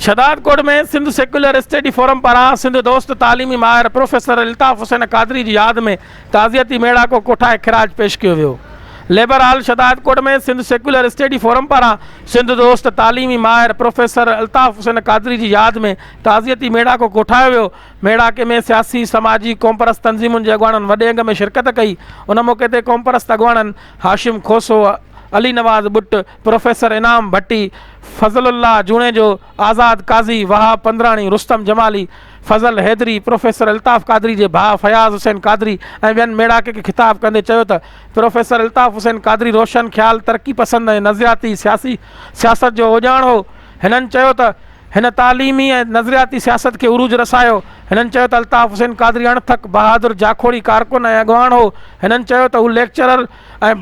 Shahdadkot ۾ Sindh secular study forum پاران سنڌ دوست تعليمي ماهر پروفيسر الطاف حسين قادري جي ياد ۾ تعزيتي ميڙاڪو ڪوٺائي خراج پيش ڪيو ويو labour hall Shahdadkot ۾ Sindh secular study forum پاران سنڌ دوست تعليمي ماهر پروفيسر الطاف حسين قادري جي ياد ۾ تعزيتي ميڙاڪو ڪوٺايو ويو ميڙاڪي ۾ سياسي، سماجي، قومپرست تنظيمن جي اڳواڻن وڏي انگ ۾ شرڪت ڪئي، ان موقعي تي قومپرست اڳواڻن هاشم کوسو، علي نواز ٻٽ، پروفيسر انعام ڀٽي، فضل الله جوڻيجو، آزاد قاضي، وهاب پندراڻي، رستم جمالي، فضل حيدري، پروفيسر الطاف قادري جي ڀاء فياض حسين قادري ۽ ٻين ميڙاڪي کي خطاب ڪندي چيو ته پروفيسر الطاف حسين قادري روشن خيال، ترقي پسند ۽ نظرياتي سياسي سياست جو اوڄاڻ هو، هنن چيو ته. هن تعليمي ۽ نظرياتي سياست کي عروج رسايو. هنن چيو ته الطاف حسين قادري اڻ ٿڪ، بهادر، جاکوڙي ڪارڪن ۽ اڳواڻ هو. هنن چيو ته هو ليڪچرر ۽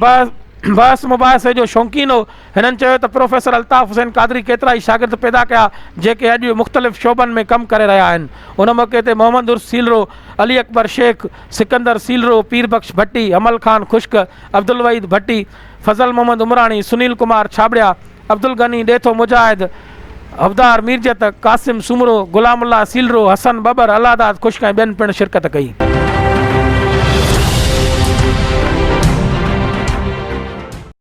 بحث مباحثي جو شونقين هو. هنن چيو ته پروفيسر الطاف حسين قادري ڪيترائي شاگرد پيدا ڪيا جيڪي اڄ مختلف شعبن ۾ ڪم ڪري رهيا آهن. ان موقعي تي محمد عرس سيلرو، علي اڪبر شيخ، سڪندر سيلرو، پير بخش ڀٽي، حمل خان خشڪ، عبدالوحيد ڀٽي، فضل محمد عمراڻي، سنيل ڪمار ڇاٻڙيا، عبدالغني ڏيٿو مجاهد، حبدار ميرجت، قاسم سومرو، غلام الله سيلرو، حسن ٻٻر، الهداد خشڪ ۽ ٻين پڻ شرڪت ڪئي.